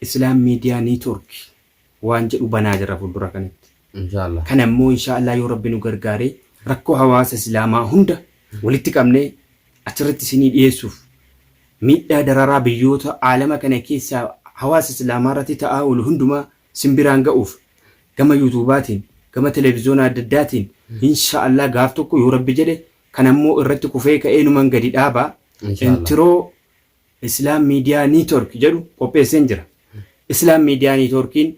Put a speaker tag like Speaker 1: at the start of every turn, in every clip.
Speaker 1: Islam media network waan jedhu banaa jirra fuuldura kanatti. Inshallah. Kana immoo
Speaker 2: inshallah
Speaker 1: yoo Rabbi nu gargaare rakkoo hawaasa Islaamaa hunda walitti qabnee achirratti isinii dhiyeessuuf miidhaa dararaa biyyoota aalama kana keessaa hawaasa Islaamaa irratti ta'aa oolu hundumaa isin biraan ga'uuf gama yuutuubaatiin gama televiziyoona adda addaatiin inshallah gaaf tokko yoo Rabbi jedhe kana immoo irratti kufee ka'ee numan gadi dhaaba. Inshallah. Intiroo Islam Media Network jedhu qopheesseen jira. Islam Media Networkiin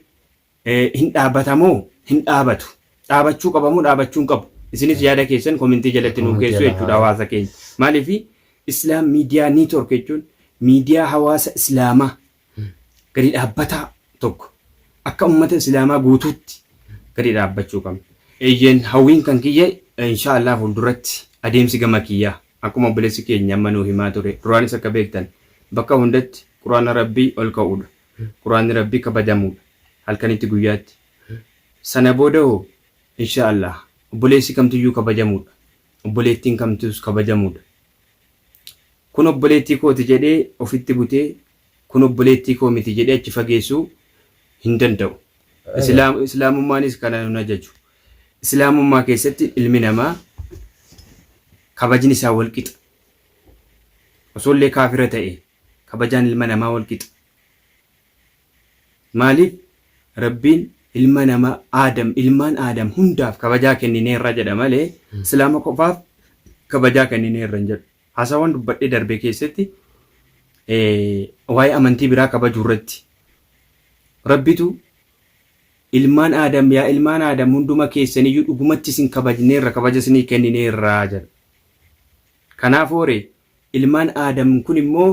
Speaker 1: hin dhaabata moo hin dhaabatu? Dhaabachuu qaba moo dhaabachuu hin qabu? Isinis yaada keessan komentii jalatti nuu keessu jechuudha hawaasa keenya. Maaliif Islam Media Network jechuun miidiyaa hawaasa Islaamaa gadi dhaabbataa tokko akka ummata Islaamaa guutuutti gadi dhaabbachuu qabna. Eeyyeen hawwiin kan kiyya inshaallah fuulduratti adeemsi gama kiyyaa. Akkuma obboleessi keenya amma nuu himaa ture duraanis akka beektan bakka hundatti qur'aana Rabbii ol ka'uudha. Qur'aanni Rabbii kabajamuudha. Halkanitti guyyaatti. Sana booda hoo? Inshaa Allaah. Obboleessi kamtuyyuu kabajamuudha. Obboleettiin kamtuus kabajamuudha. Kun obboleettii kooti jedhee ofitti butee kun obboleettii koo miti jedhee achi fageessuu hin danda'u. Islaamummaanis kana nun ajaju. Islaamummaa keessatti ilmi namaa kabajni isaa wal qixa. Osoo illee kaafira ta'e kabajaan ilma namaa wal qixa. Maaliif Rabbiin ilma namaa Aadam ilmaan Aadam hundaaf kabajaa kennineerra jedha malee Islaama qofaaf kabajaa kennineerra hin jedhu. Haasawwan dubbadhee darbee keessatti eh, waa'ee amantii biraa kabajuu irratti Rabbitu Ilmaan Aadam, yaa ilmaan Aadam hunduma keessaniyyuu dhugumatti isin kabajneerra, kabaja isinii kennineerra jedha. Kanaafuu ree, ilmaan Aadam kun immoo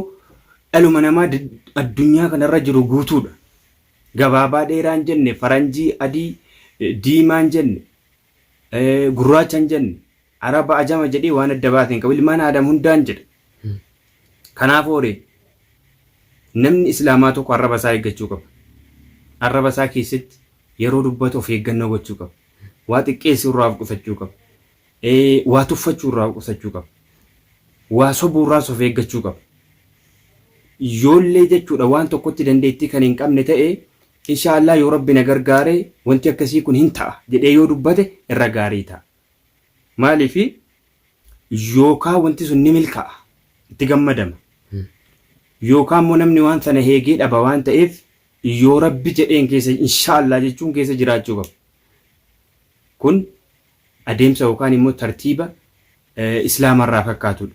Speaker 1: dhaluma namaa addunyaa kanarra jiru guutuudha. Gabaabaa dheeraa hin jenne, faranjii, adii, diimaa hin jenne. gurraacha hin jenne. Araba ajama jedhee waan adda baase hin qabu. Ilmaan Aadam hundaan jedha. Kanaaf oore namni Islaamaa tokko arraba isaa eeggachuu qaba. Arraba isaa keessatti yeroo dubbatu of eeggannoo gochuu qaba. Waa xiqqeessuu irraa of qusachuu qaba. Waa tuffachuu irraa of qusachuu qaba. Waa sobuu irraas of eeggachuu qaba. Yoollee jechuudha waan tokkotti dandeettii kan hin qabne ta'e Inshaa Allaah yoo Rabbi na gargaare wanti akkasii kun hin ta'a jedhee yoo dubbate irra gaarii ta'a. Maaliif yookaa wanti sun ni milka'a itti gammadama. Yookaa immoo namni waan sana heegee dhaba waan ta'eef yoo Rabbi jedheen keessa inshaa Allaah jechuun keessa jiraachuu qaba. Kun adeemsa yookaan immoo tartiiba Islaama irraa fakkaatudha.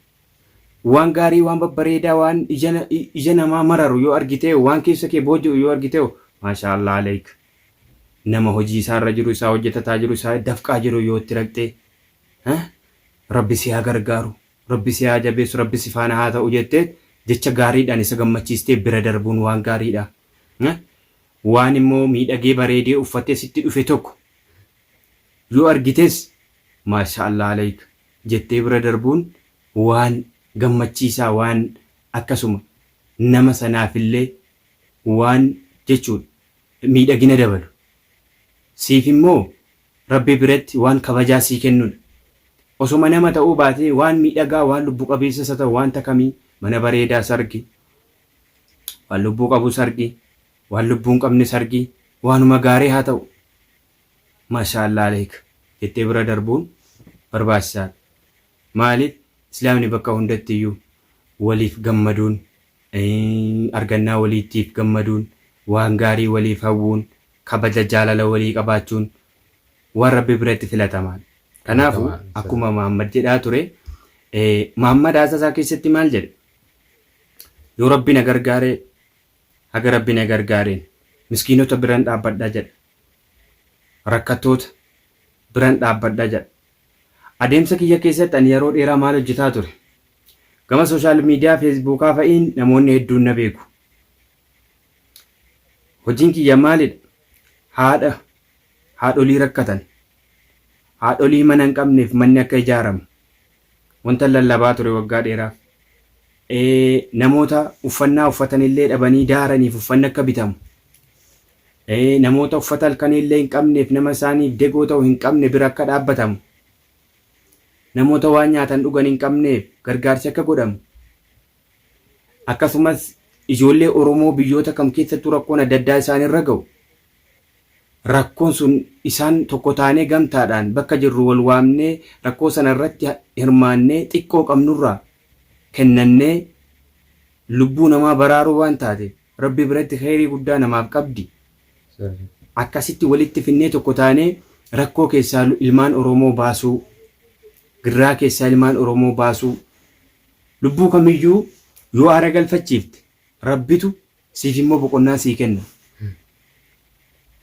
Speaker 1: Waan gaarii, waan babbareedaa, waan ija namaa mararu yoo argitee, waan keessa kee booji'u yoo argitee, maashaa Allaah aleyk. Nama hojii isaa irra jiru, isaa hojjetataa jiru, isaa dafqaa jiru yoo itti raqxee, Rabbi si haa gargaaru, Rabbi si haa jabeessu, Rabbi si faana haa ta'u jettee jecha gaariidhaan isa gammachiistee bira darbuun waan gaariidha. Waan immoo miidhagee bareedee uffatee sitti dhufe tokko Yoo argites Maasha'allah Aleyk jettee bira darbuun waan gammachiisaa waan akkasuma nama sanaafillee waan jechuudha miidhagina dabalu. Siif immoo Rabbi biratti waan kabajaa sii kennudha. Osoma nama ta'uu baatee waan miidhagaa waan lubbu qabeessas haa ta'u waanta kamii mana bareedaas argi, waan lubbuu qabus argi, waan lubbuu hin qabnes argi waanuma gaarii haa ta'u Mashallah aleyk jettee bira darbuun barbaachisaadha maaliif islaamni bakka hundattiyyuu waliif gammaduun argannaa waliittiif gammaduun waan gaarii waliif hawwuun kabaja jaalala walii qabaachuun waan rabbi biratti filatamaadha kanaafu akkuma muhammad jedhaa ture muhammad haasaa isaa keessatti maal jedhe yoo rabbi na gargaare haga rabbi na gargaareen miskiinota biran dhaabbadha jedha rakkattoota, biran dhaabbadha jedha. Adeemsa kiyya keessatti ani yeroo dheeraa maal hojjetaa ture? Gama sooshaal miidiyaa Feesbuukaa fa'iin namoonni hedduun na beeku. Hojiin kiyya maalidha? Haadha, haadholii rakkatan, haadholii mana hin qabneef manni akka ijaaramu wantan lallabaa ture waggaa dheeraaf. Ee, namoota uffannaa uffatanillee dhabanii daaraniif uffanni akka bitamu Ee, namoota uffata halkanii illee hin qabneef, nama isaaniif degoo ta'u hin qabne bira akka dhaabbatamu, namoota waan nyaatan dhugan hin qabneef gargaarsi akka godhamu, akkasumas ijoollee Oromoo biyyoota kam keessattuu rakkoon adda addaa isaan irra ga'u, rakkoon sun isaan tokko taanee gamtaadhaan bakka jirru wal waamnee rakkoo sana irratti hirmaannee xiqqoo qabnurraa kennannee lubbuu namaa baraaruu waan taateef, Rabbi biratti kheeyrii guddaa namaaf qabdi. Akkasitti walitti finnee tokko taanee rakkoo keessaa ilmaan Oromoo baasuu, girraa keessaa ilmaan Oromoo baasuu, lubbuu kamiyyuu yoo aara galfachiifte Rabbitu siif immoo boqonnaa sii kenna.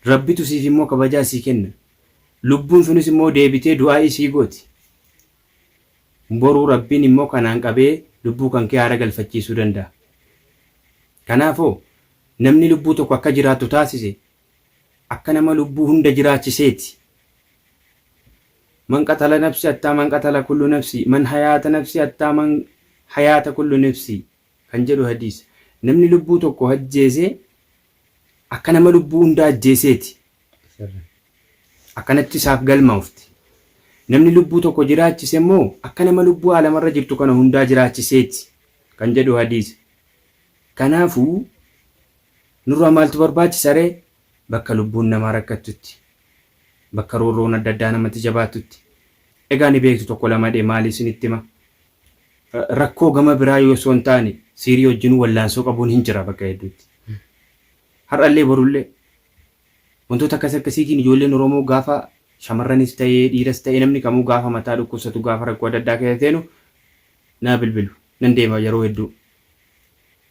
Speaker 1: Rabbitu siif immoo kabajaa sii kenna. Lubbuun sunis immoo deebitee du'aa'ii sii gooti. Boru Rabbiin immoo kanaan qabee lubbuu kankee aara galfachiisuu danda'a. Kanaafoo, namni lubbuu tokko akka jiraattu taasise akka nama lubbuu hunda jiraachiseeti. Man qatala nafsi hattaa man qatala kullu nafsi, man hayaata nafsi hattaa man hayaata kullu nafsi, kan jedhu hadiisa. Namni lubbuu tokko ajjeese akka nama lubbuu hundaa ajjeeseeti. Akkanatti isaaf galmaofti. Namni lubbuu tokko jiraachise immoo akka nama lubbuu aalamarra jirtu kana hundaa jiraachiseeti kan jedhu hadiisa. Kanaafu nurraa maaltu barbaachisa ree? Bakka lubbuun namaa rakkattutti, bakka roorroon adda addaa namatti jabaattutti. Egaa ni beektu tokko lama dhe maali isinitti hima? rakkoo gama biraa yoo osoo hin taane siirii wajjinuu wallaansoo qabuun hin jira bakka hedduutti. Har'allee borullee wantoota akkas akkasiitiin ijoolleen Oromoo gaafa shamarranis ta'ee dhiiras ta'ee namni kamuu gaafa mataa dhukkubsatu gaafa rakkoo adda addaa keessa seenu naa bilbilu nan deema yeroo hedduu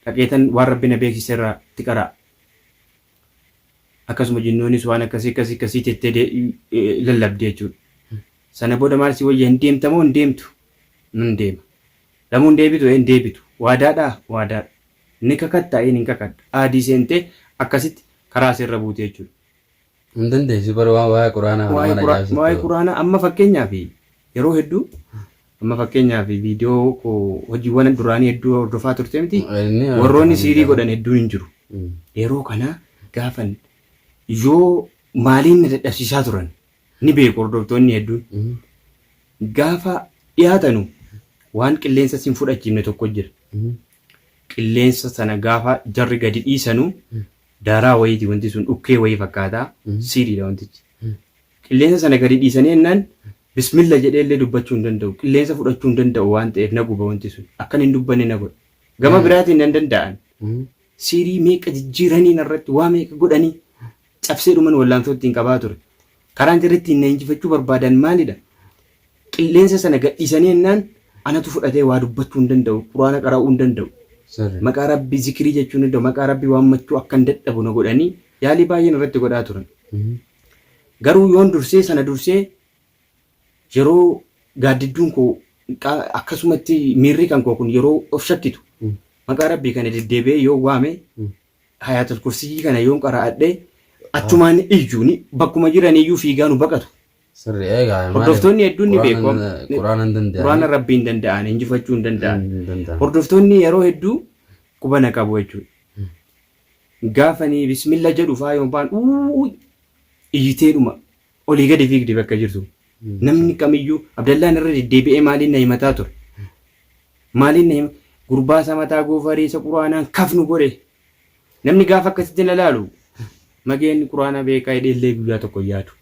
Speaker 1: dhaqeetan waan rabbi na beeksise irraa itti qaraa akkasuma jinnoonis waan akkasii akkasii akkasii jettee de- eh, lallabdi jechuudha. Sana booda maal si wayya hin deemta moo hin deemtu? Nan deema. Lamuu hin deebitu? Ee hin deebitu. Waadaa dhaa? Waadaa dha. Ni kakattaa? Ee nin kakadha. Ahdii seentee akkasitti karaa seerra buute jechuu dha. Hin dandeessu
Speaker 2: bar waan waa'ee Qur'aanaa kana Waa'ee mana Qur'aa- ijaarsa waa'ee ta'u. Qur'aanaa
Speaker 1: amma fakkeenyaaf yeroo hedduu amma fakkeenyaaf viidiyoo koo hojiiwwan duraanii hedduu hordofaa turte miti Inni warroonni hordofanii siirii jira. godhan hedduun hin jiru. Mm. Yeroo kana gaafan yoo maaliin na dadhabsiisaa turan ni beeku hordoftoonni hedduun. Gaafa dhiyaatanu waan qilleensa sin fudhachiifne tokko jira. Qilleensa sana gaafa jarri gadi dhiisanu daaraa wayiiti wanti sun dhukkee wayii fakkaata siiriidha wantichi. Qilleensa sana gadi dhiisanii ennaan bismilla jedhee illee dubbachuu hin danda'u. Qilleensa fudhachuu hin danda'u waan ta'eef na guba wanti sun. Akkan hin dubbanne na godha. Gama biraatiin nan danda'an. Siirii meeqa jijjiiranii narratti waa meeqa godhanii cabsee dhuman wallaansoo ittiin qabaa ture. Karaan jarri ittiin na injifachuu barbaadan maalidha? Qilleensa sana gadhiisanii ennaan anatu fudhatee waa dubbachuu hin danda'u, quraana qara'uu hin danda'u, Sirri. maqaa rabbii zikirii jechuu hin danda'u, maqaa rabbii waammachuu akkan dadhabu na godhanii yaalii baay'een irratti godhaa turan. Garuu yoon dursee sana dursee yeroo gaaddidduun koo qaa- akkasumatti miirri kan koo kun yeroo of shakkitu maqaa rabbii kana deddeebi'ee yoo waame Hayaatul kursiyyii kana yoon qara'adhe achumaan ni iyyu ni bakkuma jiran iyyuu fiigaa nu baqatu. Sirri eegaa maaliif? Hordoftoonni hedduun ni beeku. Quraanan- Quraanan hin danda'an. Quraana rabbii hin danda'an injifachuu hin danda'an. Hin danda'an. Hordoftoonni yeroo hedduu qubana qabu jechuudha. Gaafa ni bismilla jedhu faa yoon baan uuu iyyiteedhuma Olii gadi fiigdi bakka jirtu. Namni kamiyyuu Abdallaan irra deddeebi'ee maaliin na himataa ture. Maaliin na hima gurbaa isa mataa goofaree isa quraanaan kafnu godhe. Namni gaafa akkasitti na laalu mageen quraana beekaa hidhee illee guyyaa tokko hin yaadu.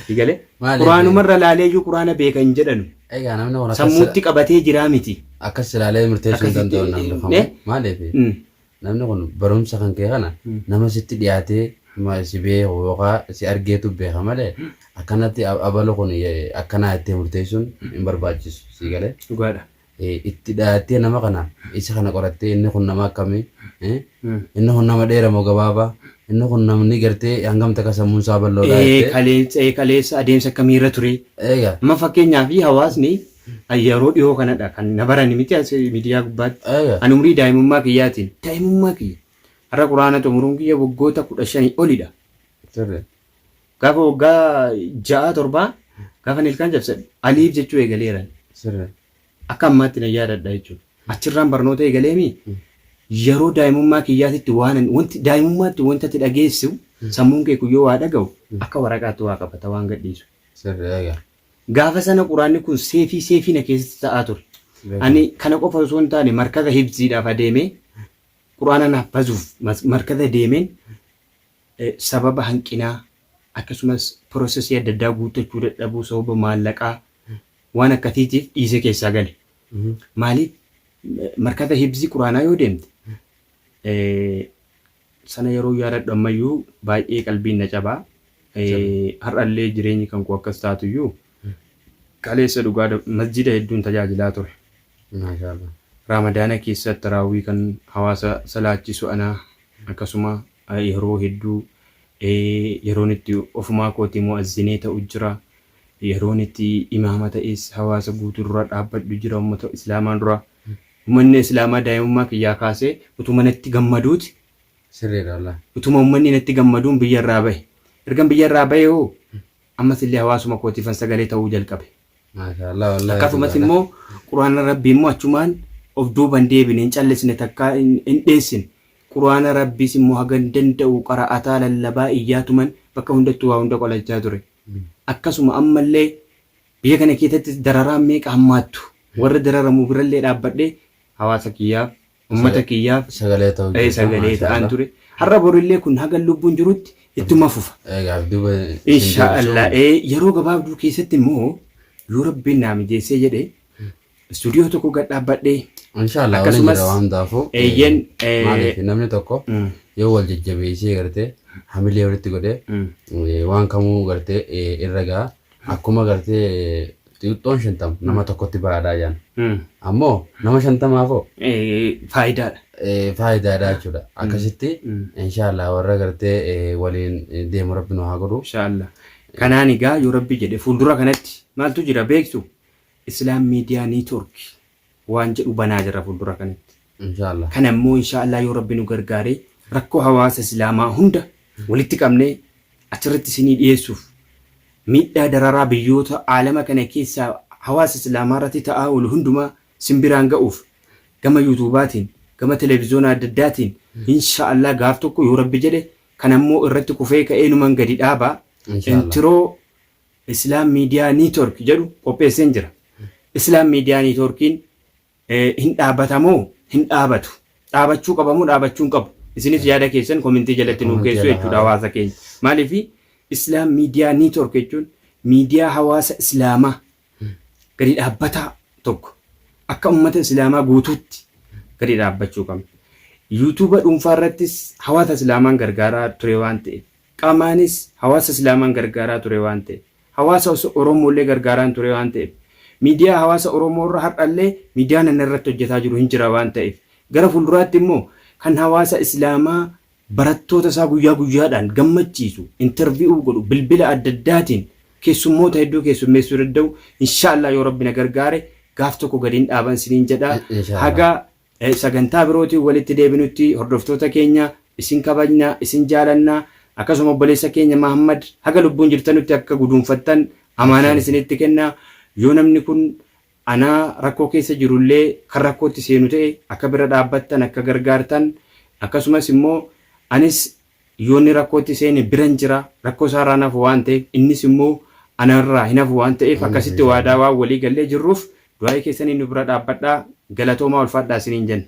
Speaker 1: Digale Maaliif? quraanumarra laalee iyyuu quraana beeka hin jedhanu. Egaa namni kun akkas sammuutti qabatee jiraa miti. akkas ilaalee
Speaker 2: murteessuu hin Akkasitti- danda'u namni Eh? kamuu. Maaliif? Mm. Namni kun barumsa kan kee kana nama sitti dhiyaatee ma- si beeku yookaan si argeetu beeka malee akkanatti a- abalu kun ye- akkanaa ittee murteessuun hin barbaachisu sii galee Dhugaadha. Eh,
Speaker 1: itti dhiyaattee
Speaker 2: nama kana isa kana qorattee inni kun nama akkamii eh, Mm. inni kun nama dheera moo gabaabaa inni kun namni gartee hangam takka sammuun isaa bal'oodhaa Ee, jettee kaleessa ee, kaleessa adeemsa
Speaker 1: akkamii irra ture eega amma fakkeenyaaf hawaasni An yeroo dhihoo kanadha kan na barani miti as miidiyaa gubbaatti. Eeyyee. An umrii daa'imummaa kiyyaatiin daa'imummaa kiyya. Har'a quraana xumuruun kiyya waggoota kudha shanii olidha. Sirri. Gaafa waggaa ja'aa torbaa gaafa nilkaan cabsadhu aliif jechuu eegaleeran. Sirri. Akka ammaatti nan yaadadha jechuudha. Achirraan barnoota eegaleemi yeroo daa'imummaa kiyyaatitti waan an- wanti daa'imummaatti wanta ati dhageessu sammuun kee kun yoo waa dhaga'u akka waraqaatti waa qabata waan gadhiisu. Sirri. Eeyyee. Gaafa sana Quraanni kun seefii seefii na keessatti ta'aa ture. Ani kana qofa osoo hin taane markaza hifziidhaaf adeemee Quraana naaf bazuuf mas- markaza deemeen eh, sababa hanqinaa akkasumas piroosesii adda addaa guuttachuu dadhabuu sababa maallaqaa waan akkasiitiif dhiisee keessaa gale. Maaliif eh, markaza hifzii Quraanaa yoo deemte Sana yeroon yaadadhu ammayyuu baay'ee qalbiin na caba. Har'allee jireenyi kan koo akkas taatuyyuu kaleessa dhugaa da- masjiida hedduun tajaajilaa ture. Maashaallah. Raamadaana keessa taraawwii kan hawaasa salaachisu ana akkasuma eh, yeroo hedduu eh, yeroon itti ofumaa kootii mu'azzinee ta'u jira. Yeroon itti imaama ta'es hawaasa guutuu dura dhaabbadhu jira ummata islaamaa dura. Umanni islaamaa daa'imummaa kiyyaa kaasee utuma natti gammaduuti sirriidha
Speaker 2: wallahi. Utuma ummanni
Speaker 1: natti gammaduun biyya irraa bahe. Ergan biyya irraa bahee hoo ammas illee hawaasuma kootiifan sagalee ta'uu jalqabe. Maashaa Allah wallahi Akkasumas dhugaadha. immoo Qur'aana Rabbii immoo achumaan of duuba hin deebine, hin callisne takkaa hin hin dheessine. Qur'aana Rabbiis immoo hagan danda'u qara'ataa, lallabaa, iyyaatuman bakka hundattuu waa hunda qolachaa ture. Akkasuma amma illee Biyya kana keessattis dararaan meeqa hammaattu warra dararamu birallee dhaabbadhee hawaasa kiyyaaf, ummata kiyyaaf Sagalee ta'uu jirta. sagalee
Speaker 2: ta'aan Maashaallah. ture.
Speaker 1: Har'a borillee kun hagan lubbuun jirutti ittuma fufa. Egaa as duuba isin Insha deebisuu. Allah. Eh, Yeroo gabaabduu keessatti immoo yoo rabbiin naa mijeessee jedhe Istuudiyoo tokko gad dhaabbadhee Inshaallah waliin Akkasumas,
Speaker 2: jira waan hundaafuu. eh, eeyyeen, eh, Maaliif namni tokko Mm. yoo wal jajjabeessee gartee hamilee walitti godhee Mm. eh, waan kamuu gartee eh, irra ga'a. Akkuma gartee xixiqqoon shantam nama tokkotti baadhaa jaan. Mm. Ammoo nama shantamaafoo Eh, Faayidaadha. eh, faayidaadha jechuudha. Akkasitti Mm. inshaallah warra gartee eh, waliin eh, deemu rabbi nu haa godhu. Inshaallah.
Speaker 1: Kanaan egaa yoo rabbi jedhe fuuldura kanatti maaltu jira beektu? Islam Media Network waan jedhu banaa jirra fuuldura kanatti. Inshaa Allah. Kana immoo
Speaker 2: inshaa Allah
Speaker 1: yoo Rabbi nu gargaaree rakkoo hawaasa Islaamaa hunda walitti qabnee achirratti isinii dhiyeessuuf miidhaa dararaa biyyoota aalama kana keessaa hawaasa Islaamaa irratti ta'aa oolu hundumaa isin biraan ga'uuf gama yuutuubaatiin gama televizoona adda addaatiin inshaa Allah gaaf tokko yoo Rabbi jedhe kana immoo irratti kufee ka'ee numan gadi dhaaba. Inshaa Allah. Intiroo Islam Media Network jedhu qopheesseen jira. Islam Media Networkiin hin dhaabbata moo hin dhaabatu? Dhaabachuu qaba moo dhaabachuu hin qabu? Isinis yaada keessan komentii jalatti nuu keessu jechuudha hawaasa keenya. Maaliif Islam Media Network jechuun miidiyaa hawaasa Islaamaa gadi dhaabbataa tokko akka ummata Islaamaa guutuutti gadi dhaabbachuu qabna. Yuutuuba dhuunfaa irrattis hawaasa Islaamaan gargaaraa ture waan ta'eef Qaamaanis hawaasa Islaamaan gargaaraa ture waan ta'eef, hawaasa oso Oromoollee gargaaraan ture waan ta'eef, miidiyaa hawaasa Oromoo irra har'allee miidiyaan ani irratti hojjataa jiru hin jira waan ta'eef, gara fuulduraatti immoo kan hawaasa Islaamaa barattoota isaa guyyaa guyyaadhaan gammachiisu, intervi'uu godhu, bilbila adda addaatiin keessummoota hedduu keessummeessuu danda'u, inshaa Allaah yoo Rabbi na gargaare gaaf tokko gadi hin dhaaban isiniin jedha. Inshaa Allaah. Haga Sagantaa birootiin walitti deebinutti hordoftoota keenya isin kabajna, isin jaalanna. Akkasuma obboleessa keenya Mahaammad haga lubbuun jirtanutti akka guduunfattan amaanaan isinitti kenna. Yoo namni kun anaa rakkoo keessa jiru illee kan rakkootti seenu ta'e akka bira dhaabbattan, akka gargaartan akkasumas immoo anis Yoo inni rakkootti seene biran jira, rakkoo isaarraa hin hafu waan ta'eef, innis immoo anarraa hin hafu waan ta'eef akkasitti waadaa waan walii gallee jirruuf du'aa'ii keessaniin nu bira dhaabbadhaa, galatoomaa ulfaadhaa isiniin jenna.